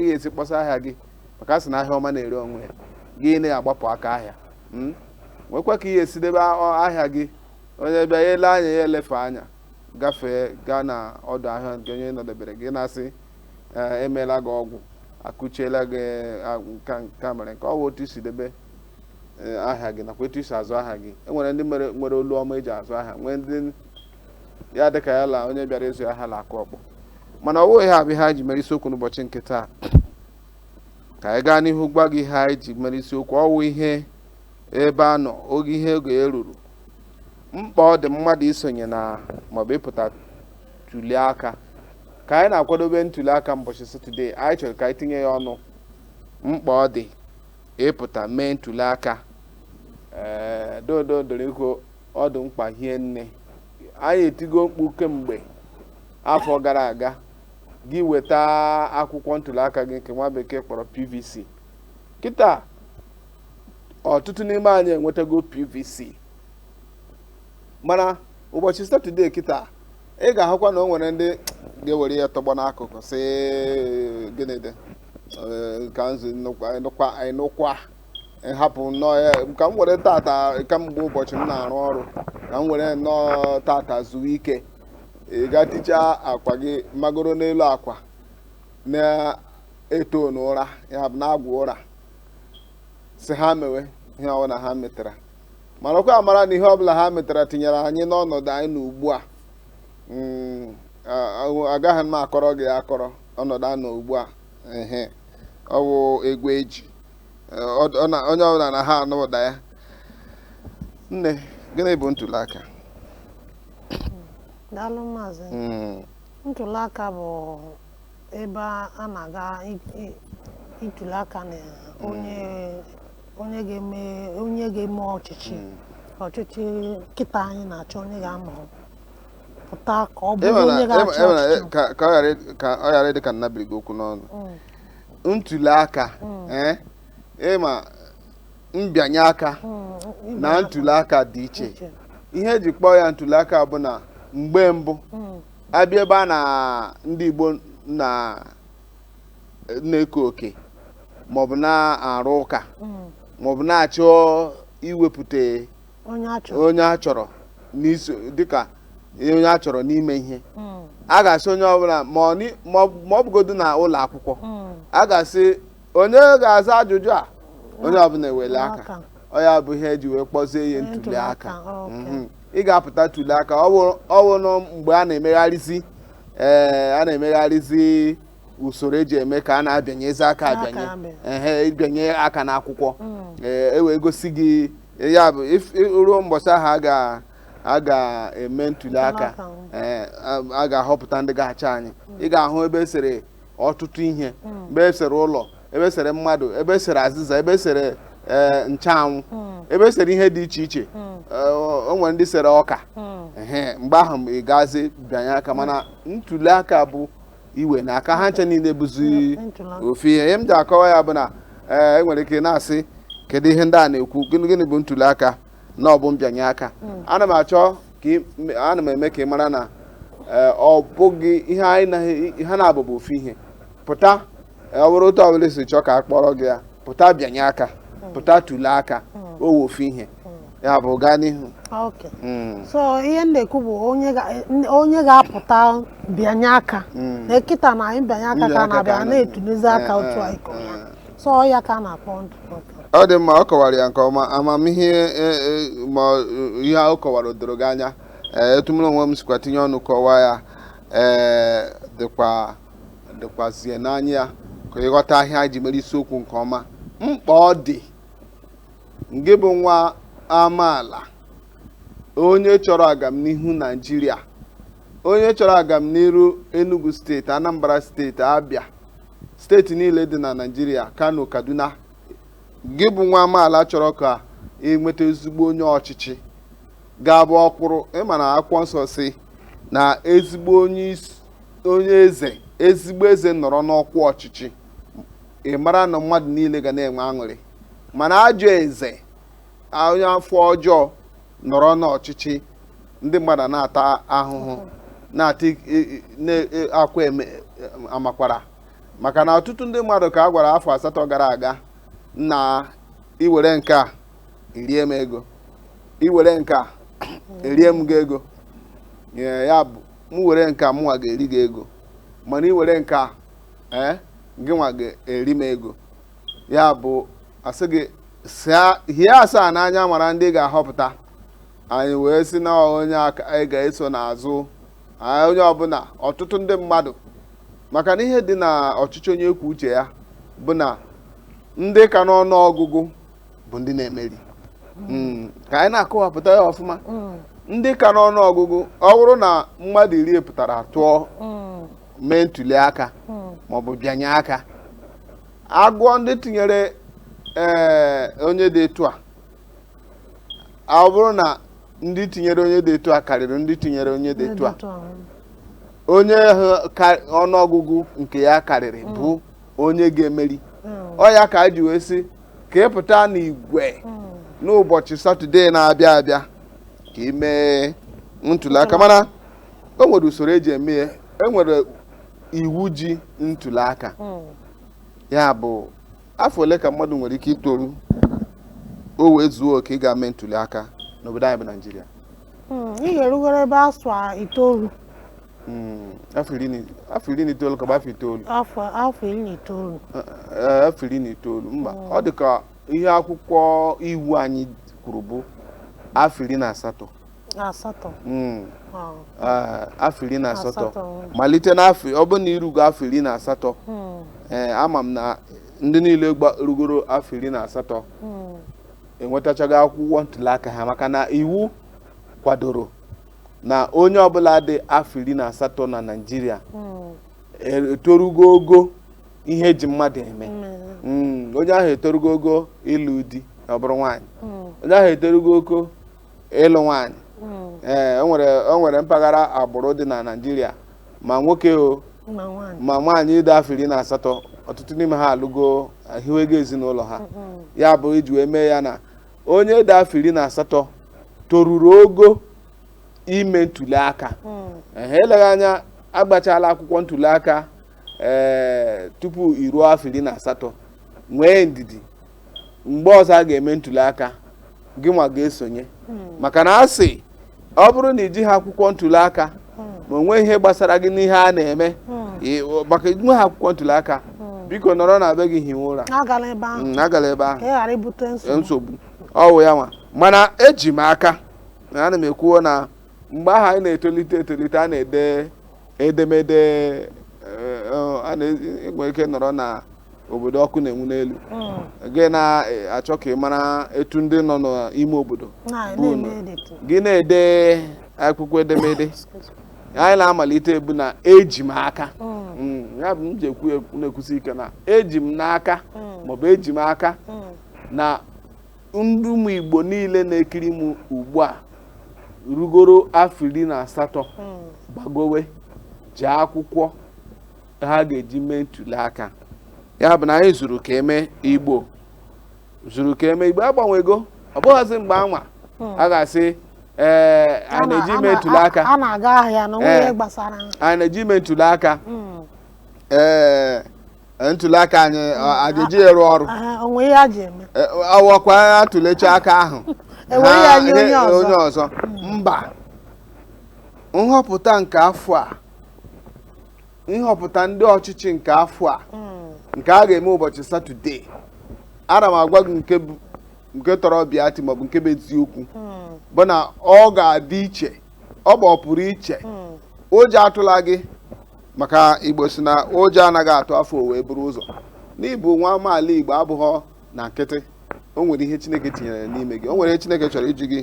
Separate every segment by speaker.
Speaker 1: ga-esi kpọsa ahịa gị maka a sị na ahịa ọma na-ere onwe ya gị na-agbapụ aka ahịa hmm? nwekwa ka ị ya-esi debe ahịa gị onye bịa ya ele anya ya elefe anya gafee gaa na ọdụ ahịa nke onye nọdebere gị na-asị eh, emeela gị ọgwụ akụchiela gị eh, nka mere nke ọ bụ otu i si debe eh, ahịa gị nakwa etu i si azụ ahịa gị enwere ndị nwere olu ọma eji azụ ahịa nwee ndị ya dị ka ya la onye bịara ịzụ ahịa la-akụ ọkpọ mana ọ wụghị ha bụ ihe anyị ji mere isiokwu n'ụbọchị nke taa ka anyị gaa n'ihu gwa gị ihe anyị ji mere isiokwu ọ wụ ihe ebe a nọ oge ihe ego eruru mkpa ọ dị mmadụ isonye na maọbụ ịpụta tuli aka ka anyị na-akwadobe ntuli aka mbọchị satọdee anyị chọrọ ka anyị tinye ya ọnụ mkpa ọ dị ịpụta mee ntuli aka ee dodo doro ikwu ọ dị mkpa hie nne anyị etigo mkpu kemgbe afọ gara aga gị weta akwụkwọ ntuli aka gị nke nwa bekee kpọrọ pvc kịta ọtụtụ n'ime anyị enwetago pvc mana ụbọchị satọdee kịta ị ga-ahụkwa na o nwere ndị ga-ewere ya tọgbọ n'akụkụ sị gịnị dị ka m zuo ị nụkwa hapụ nnọọ ya ka m were tata kamgbe ụbọchị m na-arụ ọrụ ka m were nnọọ tata zuo ike ị ga tichaa akwa gị magoro n'elu akwa na-eto n'ụra ya bụ na-agwọ ụra sị ha mewe ihe ọbụla ha metara marakwa amara na ihe ọbụla ha metara tinyere anyị n'ọnọdụ anyị nọ ugbu a mm, a- a- agaghị m akọrọ gị akọrọ ọnọdụ a nọ ugbu a ehe ọ bụ egwu eji onye ọbụla na ha anụ ụda ya nne gịnị bụ ntuli
Speaker 2: aka daalụ maazị hmm. ntuli aka bụ ebe a na-aga ituli aka na onye onye ga-eme onye ga-eme ọchịchị hmm. ọchịchị kịta anyị na-achọ onye a ga-ahọpụta ka ọ bụrụ onye ga-achị ọchịchị ka
Speaker 1: ọ ghara ịdị ka m nabiri gị okwu n'ọnụ hmm. ntuli aka ee ị ma mbịanye aka na ntuli aka dị iche ihe eji kpọọ ya ntuli aka bụ na mgbe mbụ a bịa ebe a na ndị Igbo nọ na-eke oke maọbụ na-arụ ụka maọbụ na-achọ iwepụta onye a chọrọ onye a chọrọ n'iso dịka onye a chọrọ n'ime ihe Mm, a ga-asị onye ọbụla ma ọ ni- ma ọ- ma ọ bụgodu na ụlọ akwụkwọ mm, a ga-asị onye ga-aza ajụjụ a onye ọbụla ewele aka aka. ọ ya bụ ihe eji wee kpọzie ya ntuli Ntuli aka, aka ok. Mhm. ị ga-apụta tuli aka ọ wụ- ọ wụrụ mgbe a na-emegharịzi ee a na-emegharịzi usoro eji eme ka a na-abịanyezi aka abịanye ehe ịbịanye aka n'akwụkwọ mm. e wee gosi gị ya bụ ruo mbọchị ahụ a ga a ga-eme ntuli aka a ga-ahọpụta ndị ga-achị anyị mm. ị ga-ahụ ebe esere ọtụtụ ihe mm. ebe esere ụlọ ebe esere mmadụ ebe esere azịza ebe esere e, ncheanwụ ebe esere ihe dị iche iche e, o nwere ndị sere ọka mgbe ahụ ị gazi bịanye aka mana ntuli aka bụ iweni aka ha ncha niile bụzi ofu ihe ihe m ji akọwa ya bụ na ee enwere ike na-asị kedu ihe ndị a na-ekwu gịnị gịnị bụ ntuli aka na ọ bụ mbịanye aka ana m achọ ka ị- m- ana m eme ka ị mara na ee, ọ bụghị ihe anyị naghị ha naabọ bụ ofu ihe pụta ọ bụrụ otu ọbụla esi chọọ ka a kpọrọ gị ya pụta bịanye aka pụta tulie aka ọ wụ ofu ihe ya bụ gaa n'ihu Okay. Mm, so
Speaker 2: ihe m na-ekwu bụ onye ga- n- onye ga-apụta bịanye aka mm. na kịta na anyị bịanye aka Ndị ka a aka na-abịa ka a na-etulizi na- aka eh, otu eh, anyị kọrọ ya eh. so ọ ya ka a na-akpọ ndụ ọ dị mma ọ kọwara
Speaker 1: ya nke ọma amamihe e, e, ma ọ- ihe ọ kọwara o doro gị anya ee etu mụ na onwe m sikwa tinye ọnụ kọwaa ya ee dokwa dokwazie n'anya ya ka ị ghọta ihe a anyị ji mere isiokwu nke ọma mkpa ọ dị ngị bụ nwa amaala onye chọrọ agamnihu naijiria onye chọrọ agamnihu enugu steeti anambra steeti abịa steeti niile dị na naijiria kano kaduna gị bụ nwa amaala chọrọ ka enweta ezigbo onye ọchịchị ga-abụ ọ kwụrụ ị ma na akwụkwọ nsọ sị na ezigbo onye isi onye eze ezigbo eze nọrọ n'ọkwa ọchịchị ị mara na mmadụ niile ga na-enwe aṅụrị mana ajọ eze onye afọ ọjọọ nọrọ n'ọchịchị ndị mmadụ na-ata ahụhụ na-ata akwa amakwara maka na ọtụtụ ndị mmadụ ka a gwara afọ asatọ gara aga na i were nke a i rie m ego i were nke a erie m gị ego ya bụ m were nke a mụnwa ga-eri gị ego mana i were nke a ee gị nwa ga-eri m ego ya bụ a sị gị hie asaa n'anya mara ndị ga-ahọpụta anyị wee sị na onye a ka anyị ga-eso n'azụ onye ọbụla ọtụtụ ndị mmadụ maka na ihe dị na ọchịchị onye kwuo uche ya bụ na ndị ka n'ọnụ ọgụgụ bụ ndị na-emeri hmm, ka anyị na-akọwapụta ya ọfụma hmm. ndị ka n'ọnụ ọgụgụ ọ bụrụ na mmadụ iri pụtara tụọ hmm. mee ntuli aka maọbụ bịanye aka agụọ ndị tinyere ee eh, onye dị etu a ọ bụrụ na ndị tinyere onye dị etu a karịrị ndị tinyere onye dị etu a onye ọnụọgụgụ nke ya karịrị bụ onye ga-emeri ọ ya ka a ji wee sị ka ị pụta n'igwe n'ụbọchị satọde na-abịa abịa ka ị mee ntuli aka mana o nwere usoro eji eme ya e nwere iwu ji ntuli aka ya bụ afọ ole ka mmadụ nwere ike itoru o wee zuo oke ị ga-eme ntuli aka n'obodo anyị bụ naijiria Hmm, ị
Speaker 2: ga-erugoro ebe afọ itoolu
Speaker 1: Hmm, afọ iri na itoolu ka ọ bụ afọ itoolu afọ iri
Speaker 2: na itoolu eh, eh, afọ
Speaker 1: iri na itoolu mba hmm. ọ dị ka ihe akwụkwọ iwu anyị kwuru bụ afọ iri na asatọ asatọ hmm. ah. eh, afọ iri na asatọ malite n'afọ ọ bụrụ na irugo afọ iri na asatọ ama m na ndị niile rugoro afọ iri na asatọ enwetachaghị akwụkwọ ntuli aka ha maka na iwu kwadoro na onye ọbụla dị afọ iri na asatọ na Naịjirịa hmm. etorugo ogo ihe eji mmadụ eme hmm. onye ahụ etorugo ogo ịlụ di ma ọ bụrụ nwaanyị onye ahụ etorugo ogo ịlụ nwaanyị ee eh, o nwere mpaghara agbụrụ dị na Naịjirịa ma nwoke o ma nwaanyị dị afọ iri na asatọ ọtụtụ n'ime ha alụgo hiwego ezinụlọ ha ya bụ iji wee mee ya na onye dị afọ iri na asatọ toruru ogo ime ntuli aka ehe eleghị anya agbachala akwụkwọ ntuli aka ee tupu iruo afọ iri na asatọ nwee ndidi mgbe ọzọ a ga-eme ntuli aka gị nwa ga-esonye maka na a sị ọ bụrụ na i jiha akwụkwọ ntuli aka ma o nwe ihe gbasara gị n'ihe a na-eme maka i nweha akwụkwọ ntuli aka biko nọrọ na be gị hiwe ụra agala ebe ahụ mm, nsogbu ọ wụ ya nwa mana eji m aka na ana m ekwuo na mgbe ahụ anyị na-etolite etolite a na-ede edemede eh, eh, e nwere ike nọrọ na obodo ọkụ na-enwu n'elu hmm. gị na-achọ ka ị mara etu ndị nọ n'ime obodo gị na-ede akwụkwọ edemede anyị na-amalite ebu na eji m aka hmm. Hmm, ya bụ m ji ekwu na-ekwusi ike na eji m n'aka maọbụ eji m aka na ndị ụmụ Igbo niile na-ekiri m ugbu a rugoro afọ iri na asatọ gbagowe ji akwụkwọ ha ga-eji mee ntuli aka ya bụ na anyị zuru ka eme igbo zuru ka eme igbo agbanwego ọ bụghịzi mgbe anwa hmm. a ga-asị ee a na-eje ime ntuli aka a na-aga ahịa na onwe eh. gbasara a na-eje ime ntuli aka hmm. ee eh, eh, ntuli aka anyị a ga-eji ya rụọ ọrụ o nwee ihe e ji eme ọ wụkwa a tụlecha aka a hụ onye ọzọ hmm. mba nhọpụta nke afọ a nhọpụta ndị ọchịchị nke afọ a hmm. nke a ga-eme ụbọchị satọde ana m agwa gị nke bụ nke tọrọ ọbịa ati maọbụ nke bụ eziokwu hmm. bụ na ọ ga-adị iche ọ bụ ọpụrụ iche hmm. ụjọ atụla gị maka igbo si na ụjọ anaghị atụ afọ wee buru ụzọ n'ịbụ nwa amaala igbo abụghọ na nkịtị o nwere ihe chineke tinyere n'ime gị o nwere ihe chineke chọrọ iji gị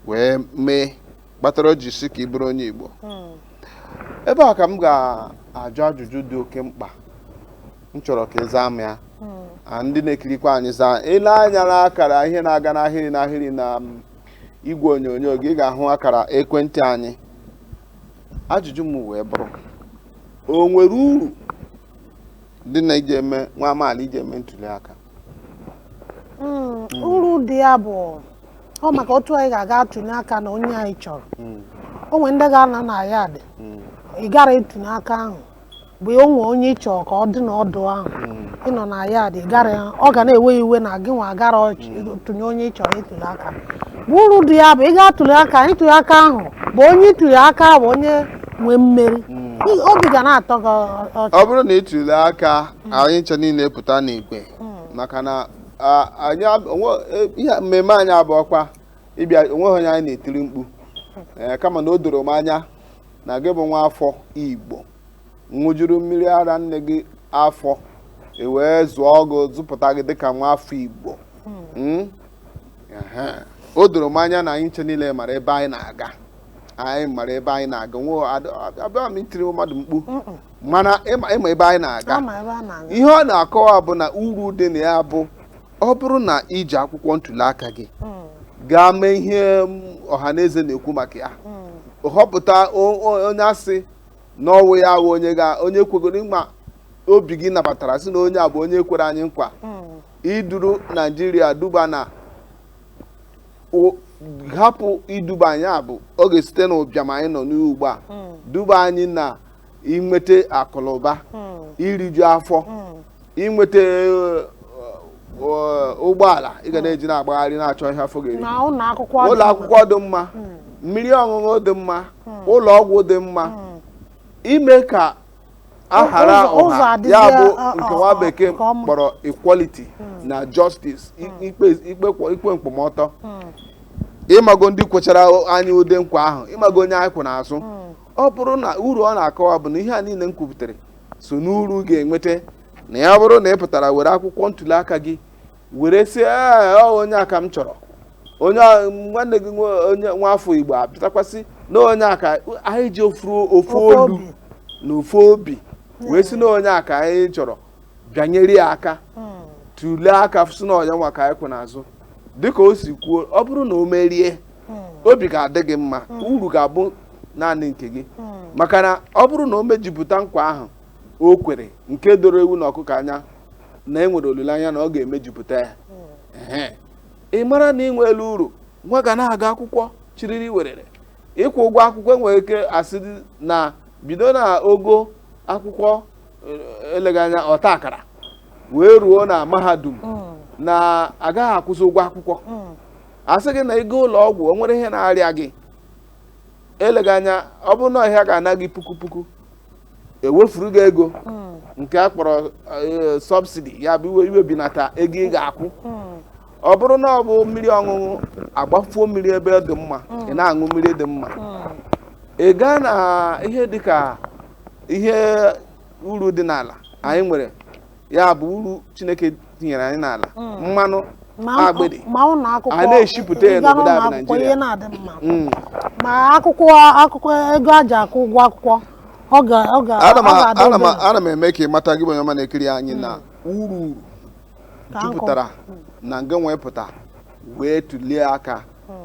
Speaker 1: wee mee kpatara o ji sị ka ị bụrụ onye Igbo hmm. ebe a ka m ga-ajụ ajụjụ dị oke mkpa m chọrọ ka ị zaa m ya hmm. ndị na-ekirikwa anyị zaa i lee anya na akara ihe na-aga n'ahịrị n'ahịrị na um, igwe onyonyo gị ị ga-ahụ akara ekwentị anyị ajụjụ m wee bụrụ o nwere uru dị na ije eme nwa amaala ije eme ntuli aka
Speaker 2: Mm, uru dị ya bụ ọ maka otu anyị ga-aga atụnye aka na onye anyị chọrọ Mm, o nwere ndị ga-anọ na yard mm, ị gara ịtụnye aka ahụ bụ o nwee onye ị chọrọ ka ọ dị n'ọdụ ahụ mm. ị nọ na yard gara ya ọ ga na-ewe iwe na gị nwa gara ọch- tụnye onye ị chọrọ ịtụle aka bụ uru dị ya bụ ị ga-atụle aka ịtụle aka ahụ bụ onye ịtụle aka bụ onye nwee mmeri Ị- obi ga na-atọ gị ọ- ọchị ọ bụrụ na ị
Speaker 1: tụlee aka mm. anyị ncha niile pụta n'igwe mm. maka na anyị e, ihe mmemme anyị abụghọkwa ịbịa o nweghị onye anyị na-etiri mkpu eh, kama na o doro m anya na gị bụ nwa afọ igbo ṅụjuru mmiri ara nne gị afọ e wee zụọ gị zụpụta gị dịka nwa afọ igbo mm. Hmm? o doro m anya na anyị ncha niile mara ebe anyị na-aga anyị mara ebe anyị na-aga nwe abịa m itiri mmadụ mkpu mana ị ma ị ma ebe anyị na-aga a ma ebe a na-aga ihe ọ na-akọwa bụ na uru dị na ya bụ ọ bụrụ na i ji akwụkwọ ntuli aka gị Mm, gaa mee ihe m, ọha na eze na-ekwu maka ya mm, họpụta o- o- onye a sị na ọ wụ ya ahụ onye ga onye kwegoro ịma obi gị nabatara sị na onye a bụ onye kwere anyị nkwa mm, iduru naijiria duba na o- hapụ iduba anyị a bụ ọ ga-esite n'ụbịam anyị nọ n'ugbu a mm, duba anyị na inweta akụnụba hmm. iriju afọ hmm. inweta eh, eh, ụgbọala ị ga hmm. na-eji na-agbagharị na-achọ ihe afọ ga-eri ụlọ akwụkwọ dị mma mmiri ọṅụṅụ dị mma ụlọ ọgwụ dị mma ime ka a hara ọha ya bụ uh, nke uh, nwa uh, bekee kpọrọ equality na justice ikpe nkwụmọtọ ị mago ndị kwechara anyị ụdị nkwa ahụ ị mago onye anyị kwụ n'azụ ọ bụrụ na uru ọ na-akọwa bụ na ihe a niile m kwupụtara so n'uru ga-enweta na ya bụrụ na ị pụtara were akwụkwọ ntuli aka gị were sị ọ onye a ka m chọrọ onye nwanne gị onye nwa afọ igbo apụtakwasị na onye a ka anyị ji ofu olu na ofu obi wee sị na onye a ka anyị chọrọ bịanyere ya aka hmm. tụlee aka sị na onye a nwa ka anyị kwụ n'azụ dịka o si kwuo ọ bụrụ na o merie hmm. obi ga-adị gị mma hmm. uru ga-abụ naanị nke gị maka na ọ bụrụ na o mejupụta nkwa ahụ o kwere nke doro ewu na ọkụkọ anya na e nwere olileanya na ọ ga-emejupụta ya ị mara na i nweela uru nwa ga na-aga akwụkwọ chiriri werere ịkwụ ụgwọ akwụkwọ e nwere ike a sị na bido na ogo akwụkwọ eh, eleghị anya ọta akara wee ruo na mahadum hmm. na a gaghị akwụzi ụgwọ akwụkwọ hmm. a sị gị na ego ụlọ ọgwụ o nwere ihe na-arịa gị eleghị anya ọ bụrụ na ọ ihe a ga-ana gị puku puku e wefuru gị ego hmm. nke a kpọrọ eh, sọbsidi ya bụ iwe iwebinata ego ị ga-akwụ hmm. ọ bụrụ na ọ bụ mmiri ọṅụṅụ a gbafuo mmiri ebe dị mma hmm. ị na-aṅụ mmiri dị mma ị gaa na ihe dịka ihe uru dị n'ala anyị nwere ya bụ uru chineke tinyere anyị n'ala mm. mmanụ agbịdị a na-eshipụta ya n'obodo a bụ naijiria mm.
Speaker 2: ma akwụkwọ akwụkwọ ego e ji akwụ ụgwọ akwụkwọ
Speaker 1: ana m eme ka ị mata gị bụ onye ọma na-ekiri anyị na mm. uru uru jupụtara na nga nwepụta wee tụlie aka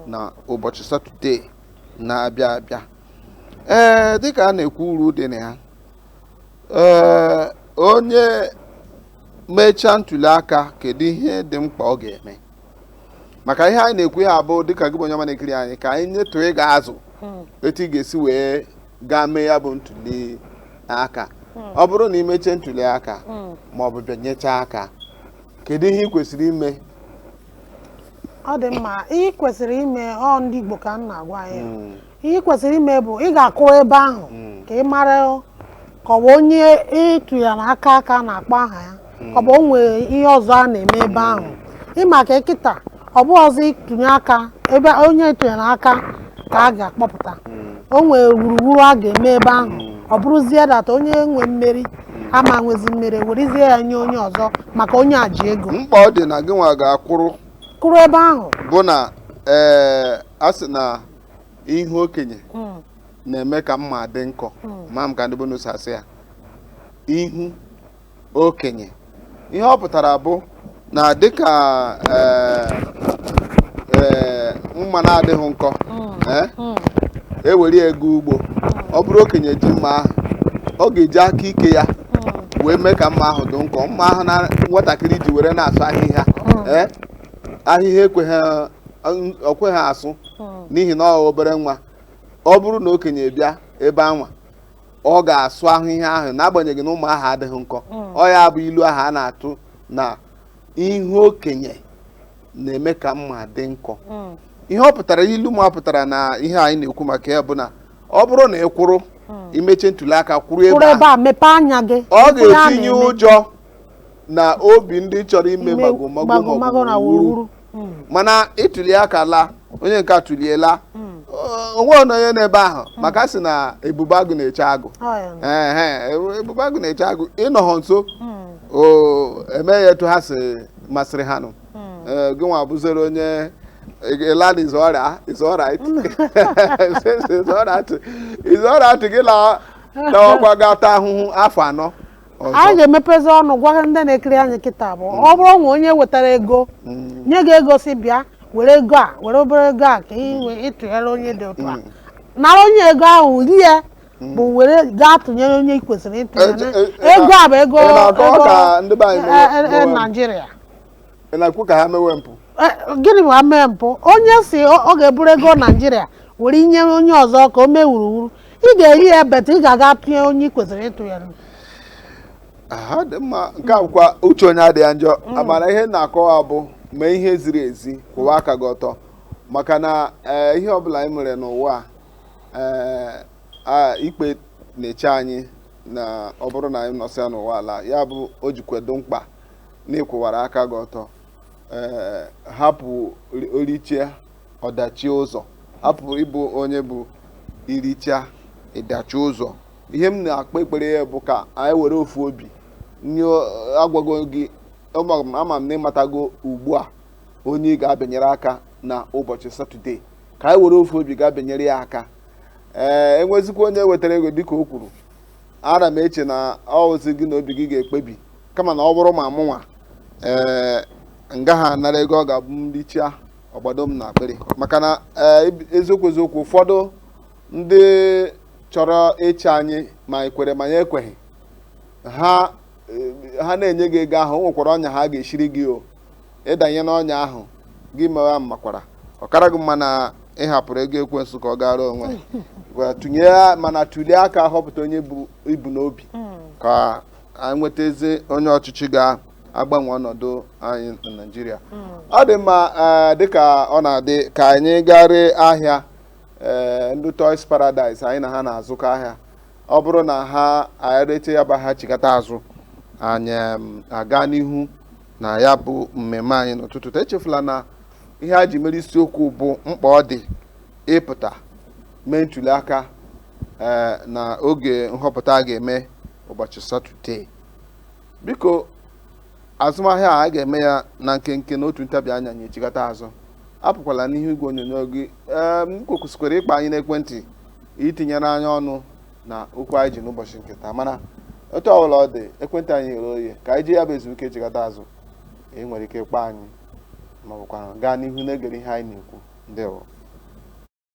Speaker 1: na ụbọchị satọde na-abịa abịa ee dịka a na-ekwu uru dị na ya ee onye mechaa ntuli aka kedu ihe dị mkpa ọ ga-eme maka ihe anyị na-ekwu ihe a bụ dịka gị bụ onye ọma na-ekiri anyị ka anyị nyetụ ị ga-azụ hmm. etu ị ga-esi wee gaa mee ya bụ ntuli aka hmm. ọ bụrụ na ị mechaa ntuli aka hmm. ma ọ bụ bịanyechaa aka kedu ihe ị kwesịrị ime
Speaker 2: ọ dị mma ị kwesịrị ime ọ ndị Igbo ka m na-agwa ya ihe ị kwesịrị ime bụ ị ga-akwụrụ ebe ahụ ka ị mara ka ọ bụ onye ị tụnyere aka ka a na-akpọ aha ya ọ bụ o nwere ihe ọzọ a na-eme ebe ahụ ịma ka kịta ọ bụ ọzọ ịtụnye aka ebe onye ịtụnyere aka ka a ga-akpọpụta o nwere wuruwuru a ga-eme ebe ahụ ọ bụrụzie that onye nwe mmeri ama nwezi mmeri werezie ya nye onye ọzọ maka onye a ji ego mkpa ọ dị na gị nwa
Speaker 1: ga-akwụrụ kwụrụ ebe ahụ
Speaker 2: bụ na
Speaker 1: ee a sị na ihu okenye hmm. na-eme ka mma dị nkọ hmm. ma m ka ndị be unu si asị ya ihu okenye ihe ọ pụtara bụ na dịka eh, eh, mma na-adịghị nkọ ewere eh, e ego ugbo ọ bụrụ okenye ji mma ahụ ọ ga-eji aka ike ya wee mee ka mma ahụ dị nkọ mma ahụ na nwatakịrị ji were na-asụ ahịhịa ahịhịa ekweghị ọkweghị asụ hmm. n'ihi na ọ obere nwa ọ bụrụ na okenye bịa ebe anwa ọ ga-asụ ahịhịa ahụ n'agbanyeghị na mma ahụ adịghị nkọ hmm. ọ ya bụ ilu ahụ a na-atụ na ihu okenye na-eme ka mma dị nkọ hmm. ihe ọ pụtara ilu ma pụtara na ihe anyị na-ekwu maka ya bụ na ọ bụrụ na ị kwụrụ i mechaa ntuli aka kwụrụ ebe a ọ
Speaker 2: ga-etinye
Speaker 1: ụjọ n'obi ndị chọrọ ime Ime magomago magomago maọbụ na wuruwuru wuruwuru. Mm. mana ị tụlie aka laa onye nke a tụlie laa Mm. o- o nweghọ nụ onye n'ebe ahụ maka a sị na ebube agụ na-eche agụ Ọ ya nọ. Ehe, ebu- ebube agụ na-eche agụ ịnọghọ nso Mm. o emee ya etu ha si masịrị ha nụ Mm. Ee, gị nwa bụzere onye ị laa it's alright it's alright it's alright it's alright gị la lawakwa gaa taa ahụhụ afọ anọ anyị
Speaker 2: ga-emepezi ọnụ gwa ndị na-ekiri anyị kịta bụ mm. ọ bụrụ na onye wetara ego mm. nye gị ego sị bịa were ego a were obere ego a ka ị tụnyere onye dị otu a mm. nara onye ego ahụ rie ya but were gaa tụnyere onye ị kwesịrị ịtụnyere e, e, e, ego a bụ ego ego Naịjirịa ị
Speaker 1: na-ekwu ka ha mewe mpụ Eh, gịnị
Speaker 2: bụ ha mewe mpụ onye sị ọ ọ ga-eburu ego naijiria were nye onye ọzọ ka o mee wuruwuru ị ga-eri ya but ị ga-aga tụnye onye ị kwesịrị ịtụnyere
Speaker 1: aha ọ dị mma nke a bụkwa uche onye adịghị ya njọ mana ihe m na-akọwa bụ mee ihe ziri ezi kwụwa aka gị ọtọ maka na eh, ihe ọbụla anyị mere n'ụwa a, eh, a, ikpe na-eche anyị na ọ bụrụ na anyị nọsịa n'ụwa a laa ya bụ o jikwa dị mkpa na ịkwụwara aka gị ọtọ ee hapụ orichia ọdachi ụzọ hapụ ịbụ onye bụ iricha ịdachi ụzọ ihe m na-ekpe ekpere ya bụ ka anyị were ofu obi nye agwago gị ama m na ịmatago ugbu a onye ị ga-abịanyere aka na ụbọchị satọde ka anyị were ofu obi ga-abịanyere ya aka ee enwezikwa onye wetara ego dịka o kwuru ana m eche na ọ wụzi gị na obi gị ga-ekpebi kama na ọ bụrụ ma mụnwa ee m gaha anara ego ọ ga-abụ m richia ọ gbado m na akpịrị maka na e, eziokwu eziokwu ụfọdụ ndị chọrọ ịchị anyị ma ekwere ma ya ekweghị ha e, ha na-enye gị ego ahụ o nwekwara ọnya ha ga-eshiri gị o ị danye n'ọnya ahụ gị mewa makwara ọ kara gị mma na ịhapụrụ ego ekwensu ka ọ gara onwe tụnye mana tụlie aka họpụta onye i bu n'obi hmm. ka anyị nweta ezi onye ọchịchị ga-agbanwe ọnọdụ anyị na Naịjirịa ọ dị mma ee, dịka ọ na-adị ka anyị gaa ree ahịa ee, ndị Toys Paradise anyị na ha na-azụkọ ahịa ọ bụrụ na ha anyị rechaa ya bụ ahịa chigata azụ anyị em, aga n'ihu na ya bụ mmemme anyị n'ụtụtụ taa. echefula na ihe a ji mere isiokwu bụ mkpa ọ dị ịpụta mee ntuli aka ee, na oge nhọpụta a ga-eme ụbọchị satọde biko azụmahịa a ga-eme ya na nkenke na otu ntabi anya anyị echigata azụ apụkwala n'ihu igwe onyonyo gị ee ị kwesịkwara ịkpọ anyị n'ekwentị itinyere anyị ọnụ na okwu anyị ji n'ụbọchị nke taa mana otu ọbụla ọ dị ekwentị anyị ghere oye ka anyị ji ya bụ ezumike echigata azụ i nwere ike kpọọ anyị ma ọ bụkwa gaa n'ihu na-egere ihe anyị na-ekwu ndewo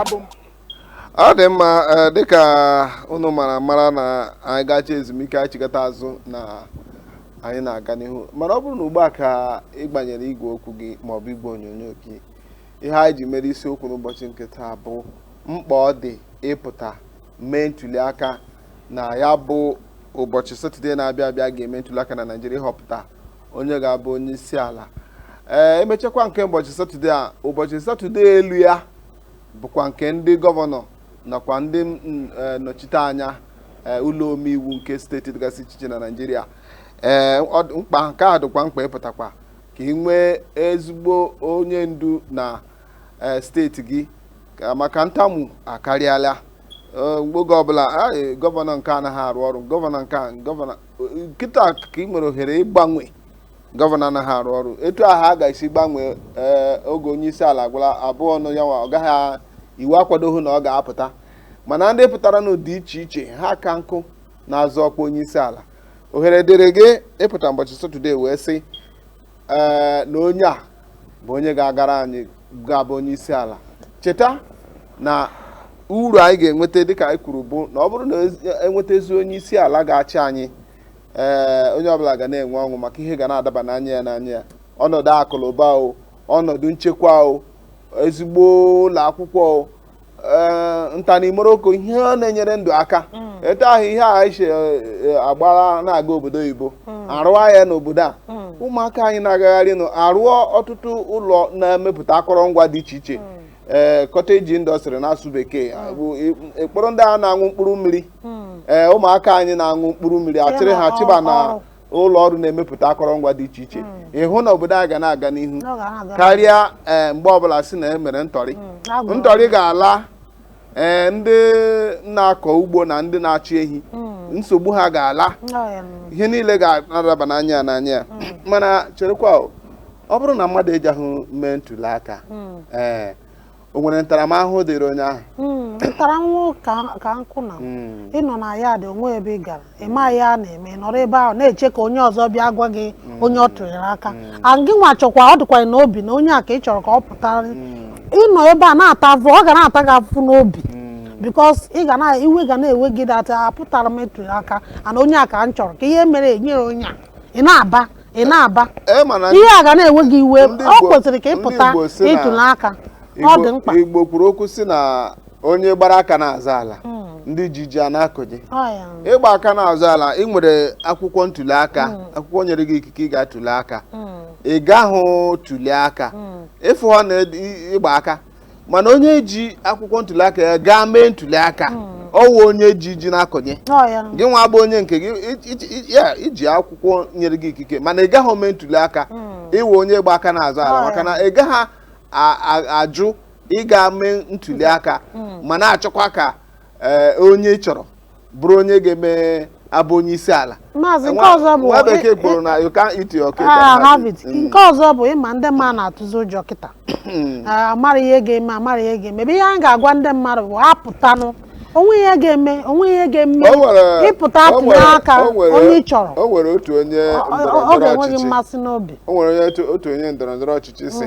Speaker 1: abụ m ọ dị mma eh, dịka unu mara mara na anyị gacha ezumike anyị chigata azụ na anyị na-aga n'ihu mana ọ bụrụ na ugbu a ka ị gbanyere igwe okwu gị maọbụ igwe onyonyo gị ihe anyị ji mere isiokwu n'ụbọchị nke taa bụ mkpa ọ dị ịpụta mee ntuli aka na ya bụ ụbọchị satọde na-abịa abịa a ga-eme ntuli aka na naijiria ịhọpụta onye ga-abụ onye isi ala ee emechakwa nke ụbọchị satọde a ụbọchị satọde elu ya bụkwa nke ndị gọvanọ nakwa ndị mm, eh, nnọchite anya eh, ụlọ omeiwu nke steeti dịgasị iche iche na naijiria ee ọ dị- mkpa nke a dịkwa mkpa ịpụtakwa ka ị nwee ezigbo onye ndu na eh, steeti gị ka- maka ntamu akarịala Eh, oge ọbụla "Ah, eh, gọvanọ nke a anaghị arụ ọrụ gọvanọ nke a gọvanọ kịta ka ị nwere ohere ịgbanwe gọvanọ anaghị arụ ọrụ etu ahụ a ga-esi gbanwee ee oge onye isi ala gara abụọ nụ ya nwa ọ gaghị iwu akwadoghị na ọ ga-apụta mana ndị pụtara n'ụdị iche iche ha ka nkụ na-azọ ọkwa onye isi ala ohere dịrị gị ịpụta ụbọchị satọde wee sị ee na onye a bụ onye ga-agara anyị ga-abụ onye isi ala cheta na uru anyị ga-enweta dịka anyị kwuru bụ na ọ bụrụ na e nweta ezi onye isi ala ga-achị anyị ee onye ọbụla ga na-enwe ọṅụ maka ihe ga na-adaba n'anya ya n'anya ya ọnọdụ akụlụba o ọnọdụ nchekwa o ezigbo ụlọ akwụkwọ o ee ntanimoroko ihe ọ na-enyere ndụ aka etu ahụ ihe a anyị si agbara na-aga obodo oyibo a rụwa ya n'obodo a ụmụaka anyị na-agagharị nụ a rụọ ọtụtụ ụlọ na-emepụta akọrọngwa dị iche iche ee cottage industry n'asụ bekee bụ e kporo ndị a na-aṅụ mkpụrụ mmiri ee ụmụaka anyị na-aṅụ mkpụrụ mmiri a chịrị ha chịba na ụlọ ọrụ na-emepụta akọrọngwa dị iche iche hmm. ị hụ na obodo a ga na-aga n'ihu karịa eh, mgbe ọbụla a sị na e mere ntọrị hmm, ntọrị ga-ala ee eh, ndị na-akọ ugbo na ndị na-achị ehi hmm. nsogbu ha ga-ala ihe niile ga na-adaba n'anya ya n'anya ya mana cherekwa ọ bụrụ na mmadụ ejeghị mee ntuli aka ee eh, o nwere ntaramahụhụ dịrị onye ahụ Mm, ntaramahụhụ
Speaker 2: ka- ka nkụ na Mm. ị nọ na yard o nweghị ebe ị gara ị ma ihe a na-eme ị nọrọ ebe ahụ na-eche ka onye ọzọ bịa gwa gị onye ọ tụnyere aka and gị nwa chọkwa ọ dịkwa n'obi na onye a ka ị chọrọ ka ọ pụtara ị nọ ebe a na-ata afụ ọ ga na-ata gị afụ n'obi because ị ga na iwe ga na-ewe gị that apụtara m etụrụ aka and onye a ka m chọrọ kee ihe mere e nyere onye a ị na-aba ị na-aba e ma na ihe a ga na-ewe gị iwe Ndị ọ Igbo- kwesịrị ka ị ndị pụta Igbo sị na- ịtuli aka ọ dị mkpa Igbo- Igbo kwuru okwu sị na
Speaker 1: onye gbara aka na-azọ ala ndị ji ji a na-akọnye Ọ ya. ị gba aka na-azọ ala ị nwere akwụkwọ ntuli aka akwụkwọ nyere gị ikike ịga tuli aka ị gaghị tuli aka ịfụ ha na ị gba aka mana onye ji akwụkwọ ntuli aka ya gaa mee ntuli aka ọ wụ onye ji ji na-akọnye Ọ ya nụ. gị nwa bụ onye nke gị i- i- i- ya i ji akwụkwọ nyere gị ikike mana ị gaghị mee ntuli aka ị wụ onye gba aka na-azọ ala Ọ, maka ya. na ị gaghị a- a- ajụ ịga mee ntuli aka ma na-achọkwa ka ee, onye ị chọrọ bụrụ onye ga-eme abụ onye isi ala maazị nke Nwa- ọzọ bụ nwa bekee kwuru na you can't eat your cake and Ah, have have it. it. Mm. nke ọzọ bụ ị
Speaker 2: ma ndị mmadụ na-atụzi ụjọ kịta Ah, amara ihe ga-eme amara ihe ga-eme but ihe anyị ga-agwa ndị mmadụ bụ ha pụtanụ o nweghị ihe ga-eme o nweghị ihe ga-eme O nwere- ị pụta o tụnye nwere- aka o nwere- onye ị chọrọ o nwere otu onye Ọ-
Speaker 1: ọ- ọ ndọrọndọrọ ga-enwe gị
Speaker 2: ọchịchị mmasị n'obi o nwere onye otu- otu
Speaker 1: onye ndọrọndọrọ ọchịchị sị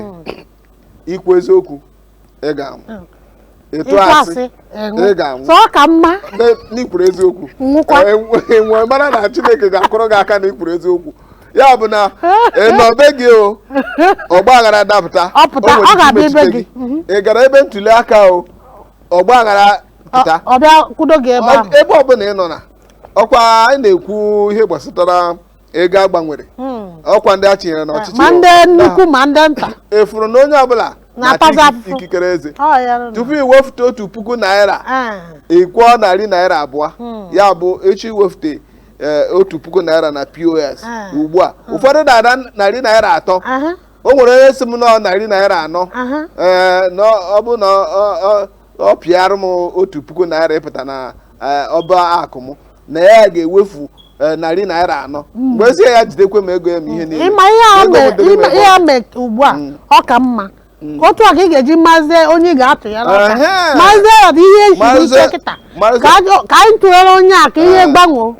Speaker 1: i kwuo eziokwu ị ga-anwụ Mm. ị tụọ ị tụọ asị asị ị nwụọ ị ga-anwụ so ọ ka mma
Speaker 2: Ne- na i kwuru
Speaker 1: eziokwu Nwụkwa. Eh, e wee- e wee mara na chineke ga-akụrụ gị aka na i kwuru eziokwu ya bụ na ị nọ be gị o ọgba aghara dapụta Ọ pụta, o nwere ọ ike ga-abịa ebe
Speaker 2: imechite gị. Mhm. ị gara ebe
Speaker 1: ntuli aka o ọgba aghara pụta Ọ- ọ bịa kwudo gị
Speaker 2: ebe ahụ Ọ- ebe ọbụla ị nọ na
Speaker 1: ọkwa anyị na-ekwu ihe gbasatara ego a gbanwere ọkwa ndị a chinyere n'ọchịchị ma ndị nnukwu
Speaker 2: ma ndị nta ị fụrụ na onye
Speaker 1: ọbụla Na-atazi na-ata afụfụ. ikikere eze Ọ ya nụ. tupu i wefute otu puku naira Ah, ị kwụọ narị naira abụọ Hmm. ya bụ ị chọọ iwefute eh, otu puku naira na pos Ah. ugbu a ụfọdụ na-ada narị naira atọ aha, o nwere onye sị m na ọ narị naira anọ aha. ee na ọ bụ na ọ- ọ- ọ pịara m otu puku naira ịpụta na eh, ọba akụ m na ya ga-ewefu eh, narị naira anọ m wee sị ya jidekwe m ego ya ma ihe niile ịma ihe a Ego mee- butere
Speaker 2: m ịma ebe ihe ọ a mee ugbu a ọ ka mma otu a ka ị ga-eji mazie onye ị ga-atụnyere aka Ehe. mazie ya na ihe siri Mazie- ike kịta mazie- ka ajọ- ka anyị tụnyere onye a ka ihe Eh. gbanwoo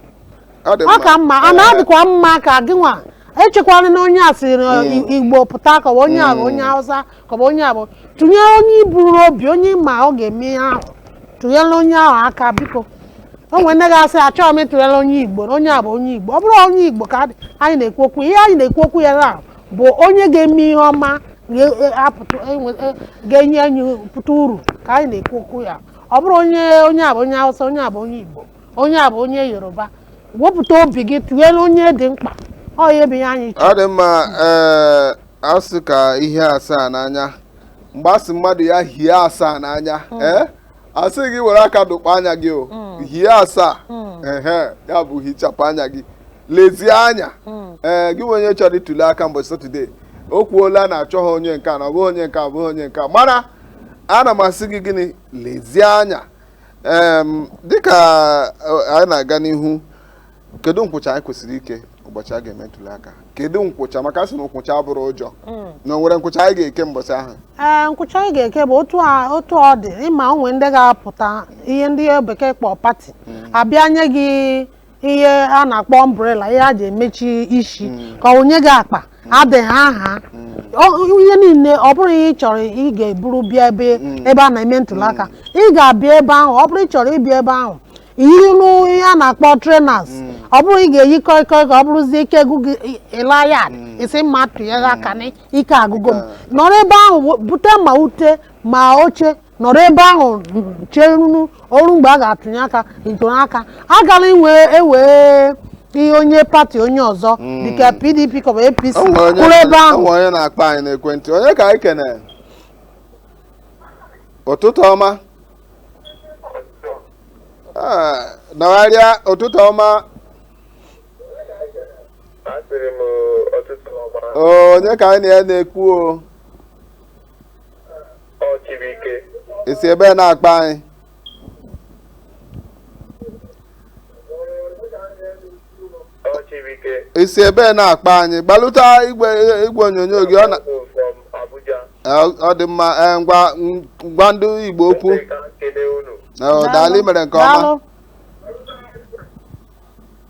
Speaker 2: Ọ dị ọ ka mma a Eh, na-adịkwa mma ka gị nwa echekwala na onye a siri na Igbo pụta ka ọ bụ onye a bụ onye Hausa ka ọ bụ onye a bụ tụnyere onye i bu n'obi onye ị ma ọ ga-eme ihe ahụ tụnyere onye ahụ aka biko o nwere ndị ga-asị achọghị m ịtụnyere onye igbo na onye a bụ onye igbo ọ bụrọ onye igbo ka adị- anyị na-ekwu okwu ihe anyị na-ekwu okwu ya na bụ onye ga-eme ihe ọma ga- e- apụta enwe- e- ga-enye anyị pụta uru ka anyị na-ekwu okwu ya ọ bụrọ onye onye a bụ onye hausa onye a bụ onye igbo onye a bụ onye yoruba wepụta obi gị tụnyere onye dị mkpa ọ ya bụ ihe anyị chọrọ ọ dị mma
Speaker 1: ee a sị ka i hie asaa n'anya mgbe a sị mmadụ ya hie asaa n'anya ee a sị gị were aka dụkpọ anya gị o hie asaa ehe ya bụ hichapụ anya gị lezie anya ee gị nwa onye chọrọ ịtụli aka mgbe satọde o kwuola na achọghị onye nke a na ọ bụghị onye nke a ọ bụghị onye nke a mana ana m asị gị gịnị lezie anya em dịka eh, anyị na-aga n'ihu kedu nkwụcha anyị kwesịrị ike ụbọchị a ga-eme ntuli aka kedu nkwụcha maka a sị na nkwụcha abụrọ ụjọ hmm. na o nwere nkwụcha anyị ga-eke mbọchị ahụ ee nkwụcha anyị ga-eke
Speaker 2: bụ otu ọ dị ị ma o nwe ndị ga-apụta ihe ndị bekee kpọ party hmm. a bịa nye gị ihe a na-akpọ umbrella ihe a ji emechi isi hmm. ka o nye gị akpa e dere aha ihe niile ọ bụrọ ihe ị chọrọ ị ga-eburu bịa ebe a na-eme ntuli aka ị ga-abịa ebe ahụ ọ bụrụ ị chọrọ ịbịa ebe ahụ yinụ ihe a na-akpọ trainers ọ bụrụ ị ga-eyi kọị kọị ka ọ bụrụzie ike agwụ gị ịla ya ị sị m ma tụnyere aka na ike agwụgo m nọrọ ebe ahụ wo- bute ma ute ma oche nọrọ ebe ahụ cherenụ o ruo mgbe a ga-atụnye aka ntụnye aka agala inwe ewee ihe onye pati onye ọzọ dịka pdp ka ọ bụ apc O nwere onye- kwụrụ ebe ahụ o nwere onye na-akpọ anyị
Speaker 1: n'ekwentị onye ka anyị kene ụtụtụ ọma Ah, nọgharịa ụtụtụ ọma Asịrị m ụtụtụ ọma Oo, onye ka anyị na ya na-ekwu o ọ Chibuike i si ebee na-akpa anyị Ọ Chibuike. i si ebee na-akpa anyị gbalụta igwe igwe onyonyo gị ọ na Abụ from Abuja. ọ- ọ dị mma ee, ngwa gwa ndị igbo okwu Ndị ka m kelee unu. Ee, daalụ mere nke ọma Daalụ.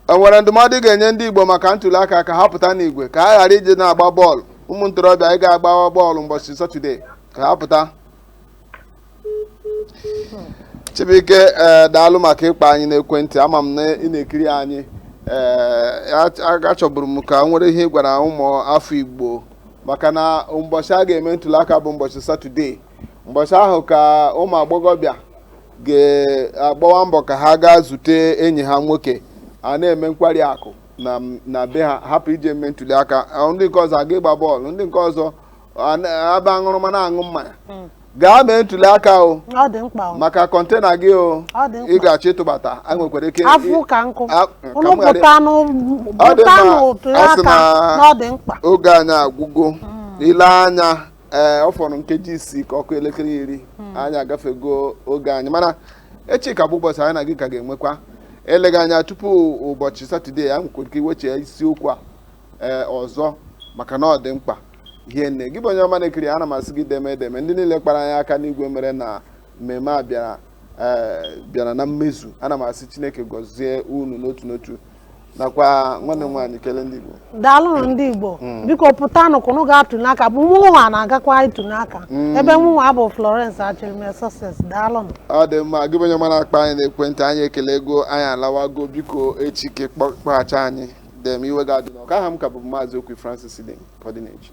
Speaker 1: o nwere ndụmọdụ ị ga-enye ndị igbo maka ntuli aka ka ha pụta n'igwe ka ha ghara ije na-agba bọọlụ ụmụ ntorobịa anyị ga-agba bọọlụ mbọchị satọde ka ha pụta Chibuike ee eh, daalụ maka ịkpa anyị n'ekwentị ama m na ị na-ekiri anyị ee eh, achọburu m ka o nwere ihe ị gwara ụmụ afọ Igbo maka na ụbọchị a ga-eme ntụliaka bụ ụbọchị satọde ụbọchị ahụ ka ụmụ agbọghọbịa ga-agbawa mbọ ka ha gaa zute enyi ha nwoke a na-eme nkwari akụ na be ha hapụ ije eme ntụliaka ndị nke ọzọ aga ịgba bọọlụ ndị nke ọzọ aba aṅụrụma na-aṅụ mmanya hmm. gaa mee ntuli aka ọ maka kọntena gị o ị ga-achọ ịtụbata a nwekwara ike ọ sị na oge anyị agwụgo hmm. i lee anya ee eh, ọ fọrọ nkeji isii ka ọ kụọ elekere iri hmm. anyị agafego oge anyị mana echi ka bụ ụbọchị anyị na gị ka ga-enwekwa eleghị anya tupu ụbọchị satọde a nwekwara ike iwechi isiokwu a ee ọzọ maka na ọ dị mkpa hie nne gị bụ onye ọma na-ekiri ana m asị gị deeme deeme ndị niile kpara anyị aka n'igwe mere na mmemme a bịara eh, bịara na mmezu ana m asị chineke gọzie unu n'otu n'otu nakwa nwanne m nwaanyị kelee ndị Igbo daalụnụ ndị
Speaker 2: Igbo hmm. biko pụtanụ ka unu gaa tụnye aka bụ mụnwa na-agakwa ịtụnye aka hmm. ebe mụnwa bụ Florence Achịrịme Success daalụnụ ọ dị mma gị bụ
Speaker 1: onye ọma na-akpa anyị na ekwentị anyị ekelego anyị alawago biko echi ka ị kpọghachi anyị Deeme iwe gị adịna ọkụ. Aha m ka bụ Maazị Okwi Francis Idem ka ọ dị n'echi.